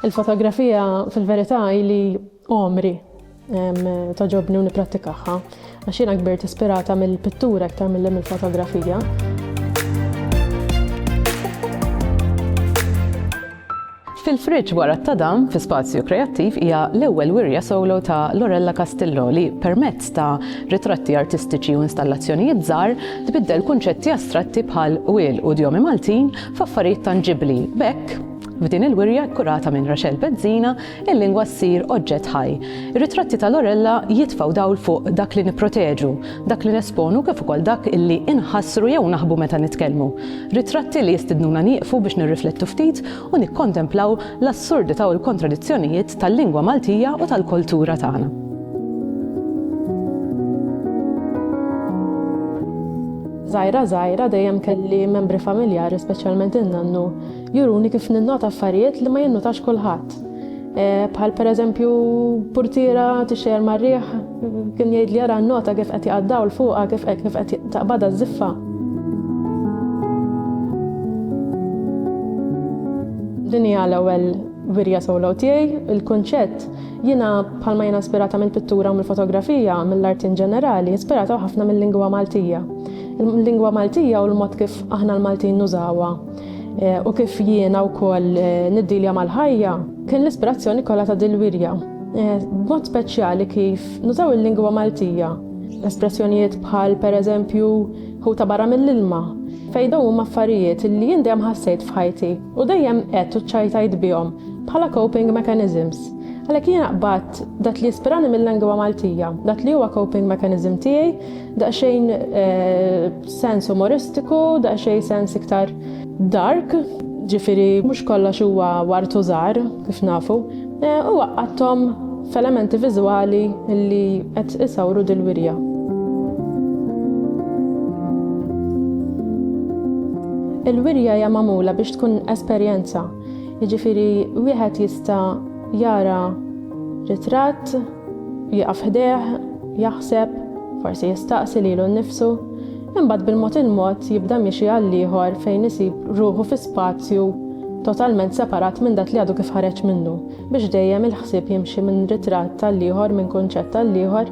Il-fotografija fil-verità li għomri toġobni u niprattikaħħa għax jiena kbirt ispirata mill-pittura iktar mill-fotografija. Fil-Friġġ Wara t-Tadam fi Spazju Kreattiv hija l-ewwel wirja solo ta' Lorella Castillo li, permezz ta' ritratti artistiċi u installazzjonijiet żgħar, tbiddel kunċetti astratti bħal qwiel u djomi Maltin f'affarijiet tanġibbli. B'hekk, f'din il-wirja kkurata minn Rachelle Bezzina, il-lingwa ssir oġġett ħaj. Ir-ritratti ta' Lorella jitfgħu dawl fuq dak li nipproteġu, dak li nesponu kif ukoll dak li inħassru jew naħbu meta nitkellmu. Ritratti li jistidnuna nieqfu biex nirriflettu ftit u nikkontemplaw l-assurdità u l-kontradizzjonijiet tal-lingwa Maltija u tal-kultura tagħna. Żgħira żgħira dejjem kelli membri familjari speċjalment in-nannu Juruni kif ninnota affarijiet li ma jinnotax kulħadd. Bħal pereżempju purtiera tixxejjer mar-riħ kien jgħid li jara nnota kif qed jaqa' dawl fuqha kif kif qed taqbadha ż-żiffa. Din hija l-ewwel wirja solo tiegħi. Il-kunċett jiena bħalma jiena ispirata mill-pittura u mill-fotografija, mill-art in ġenerali, ispirata ħafna mil-lingwa Maltija. Il-lingwa Maltija u l-mod kif aħna l-Maltin nużawha. Eh, u kif jiena wkoll eh, niddilja mal-ħajja, kien l-ispirazzjoni kollha ta' dil-wirja. Eh, b'mod speċjali kif nużaw il-lingwa Maltija. Espressjonijiet bħal pereżempju hu ta' barra mill-ilma, fejn dawn huma affarijiet li jien dejjem ħassejt f'ħajti u dejjem qed u ċajtajt bihom bħala coping mechanisms. Għalhekk jiena qbad Dak li jispirani mil-lengwa Maltija, dak li huwa coping mechanism tiegħi, daqsxejn sens umoristiku, daqsxejn sens iktar dark, ġifieri mhux kollox huwa ward u żahar kif nafu, u għaqqadthom f'elementi viżwali li qed isawru dil-wirja. Il-wirja hija magħmula biex tkun esperjenza, jiġifieri wieħed jista' Jara ritratt, jieqaf ħdejh, jaħseb, forsi jistaqsi lilu nnifsu, imbagħad bil-mod il-mod jibda miexi għall-ieħor fejn isib ruħu fi spazju totalment separat minn dak li għadu kif ħareġ minnu, biex dejjem il-ħsieb jimxi minn ritratt għall-ieħor, minn kunċett għall-ieħor,